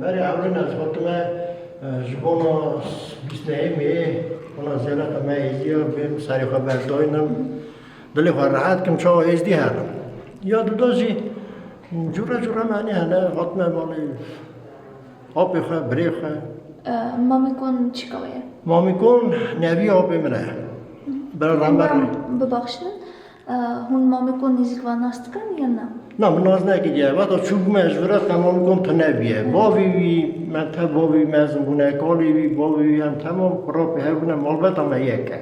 Berê hewlina ji bo tu me ji bona bîst nehêmê wina zêleta me êzî ya bên serê xwe berdayinim dilê xwe rehet kim çawa êzdî herim. Ya duda jî cûre cûre menî hene hatime malê apê xwe birê xwe. Mamîkon çîka wê ye? Mamîkon nevî apê min e. Bira rember. Bibaxşin. Hûn Mamiko nêzîk va nas dikin ya na? Na min nas nekiriye. Veta çûbûme ez vira te Mamikon tune bûye. Bavê wî me te bavê wî mezin bûne, kalê wî bavê wî em temam xurapê hev bûne malbeta me yek e.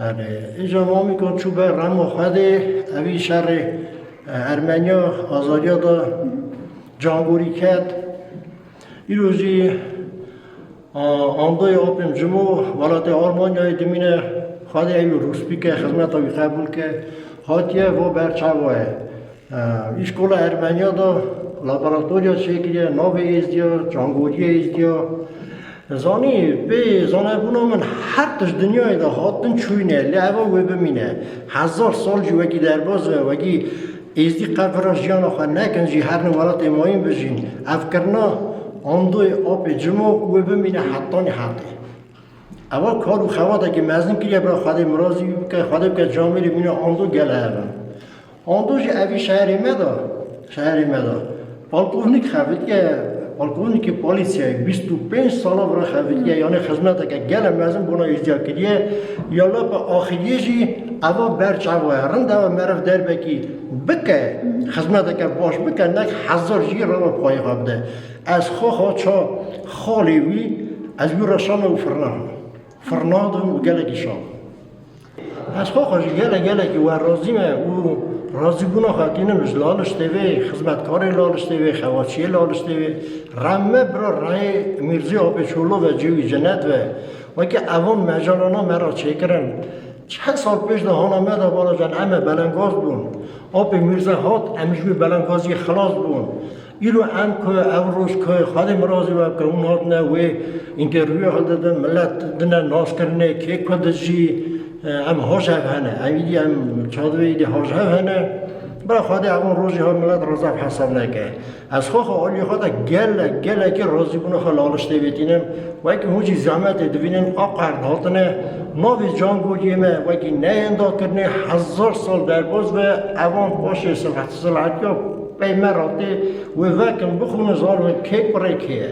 Erê, îca Mamikon çû ber rema xwe dê evî şerê Ermeniya Azadiya da cangorî ket. Îro jî Andoy Opim Cimo welatê Almanyayê dimîne xwedê ew rûs bike xizmeta wî qebûl ke hatiye vo ber çawaye. Îşkola Ermeniya da laboratoriya çêkiriye navê êzdiya, cangoriyê êzdiya. Zanî pê zanebûna min her tişt dinyayê da hatin çûyne lê eva wê bimîne. Hezar sal jî wekî derbaz ve wekî Êzidî qet vira jiyana xwe nekin jî her ne welatê mayîn bijîn. Ev kirina Andoyê apê cimo û wê bimîne hetanî hetê. Eva kar û xebatekî mezin kiriye bira Xwedê mirazî bike, Xwedê bike camêrê mîna Ando gel hev in. Ando jî evî şeherê me de, şeherê me de. Polkovnik xeviltiye polkovnîkê polîsyayê bîst û pênc sala vira xeviltiye yanê xizmeteke gele mezin bona îzdîa kiriye ya lapa axiriyê jî eva ber çawa ye rind eva meriv derbekî bike xizmeteke baş bike nek hezir jî reva payixa bide ez xwexa ça xalê wî ez wî re şana û firna firna dibim û gelekî şa Ez xwe xwe ji gelek gelekî wer razî me û razîbûna xwe tînim ji laliştê vê xizmetkarê laliştê vê xewaçiyê laliştê vê re me bira reyê Mîrzî Apê Çolo ve cêwî cinet ve weke evan mecalana me re çêkirin çend sal pêş de hana me de bala can eme belengaz bûn Apê Mîrze hat em ji wê belengaziyê xilas bûn Îro em ku ev roj ku Xwedê Mirazî ve ku hûn hatine wê întervîwê hil didin, milet dine naskirinê kê ku dijî em hojhev hene. Ev îdî em çadivê îdî hojhev hene. Bira Xwedê evon rojî hil milet reza ev hesab neke. Ez xwe xwe aliyê xwe de gelek gelekî razîbûna xwe li Aliş tê vêtînim. Wekî hûn jî zehmetê dibînin a qerd hatine navê cangojê me wekî neyên dakirinê hezar sal derbas be evan paşê Silhetiya Pey me ra tê wê vekin bixwînin zanin kê kurê kê ye.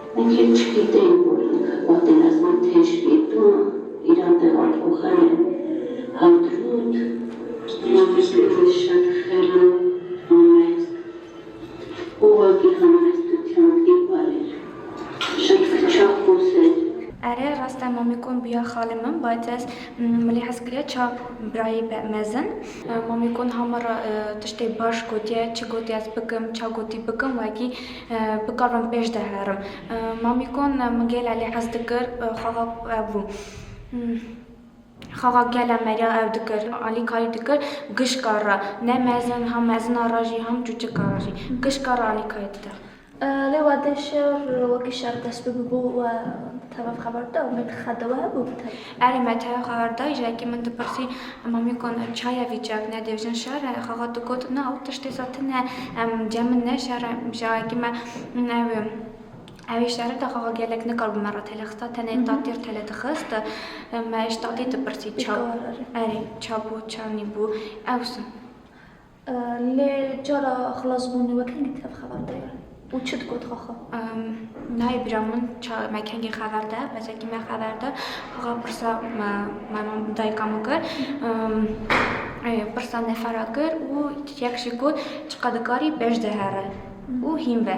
Yekê çikî tên ku li xebatê Ezmî têj bî duma Îran de Alxoxane hat rût Mametkirê şer xera Amesk û wa gihand ez dutyan bî balê şer fiça xo ser. Erê rast e Mamikon bûya xalê min bay te ez milê hez kiriya ça birayê be mezin. Mamikon hama ra tiştê baş gotiye çi gotî ez bikim ça gotî bikim wekî. Bikarim pêş de herim. Mamîkon min gêle lê hez dikir xaxa ew bû. Xaxa gele meriya ew dikir. Alîkarî dikir gişka re. Ne mezin hem mezina re jî hem çûçika re jî. Gişka re alîkarî dide. Lê wede şer wekî şer dest bi bû we bi tevaf xeber dide û me dixe dewe hebû bi tevaf. Erê me teye xehar dayî ji ekî min dipirsî Mamî kon em çaye vî çek ne dêjin şere? Xexa digot na ew tiştê za tine em cemn ne şere ji ayekî me ew ew ê şere de xexa gelek nikar bi me re tele xista tenê tatî re tele dixist me ji tatî dipirsî ça erê ça bû ça nîbû ew sin. Lê cara xilasbûnê wek hîn dît ev xeber de ye û çi digot xaxa? Nayê bîra min ça me kengê xeber de, besekî me xeber de xaxa pirsa me me dayika min kir. Pirsa nefera kir û yex jî got çiqadikarî bej de here û hîn be.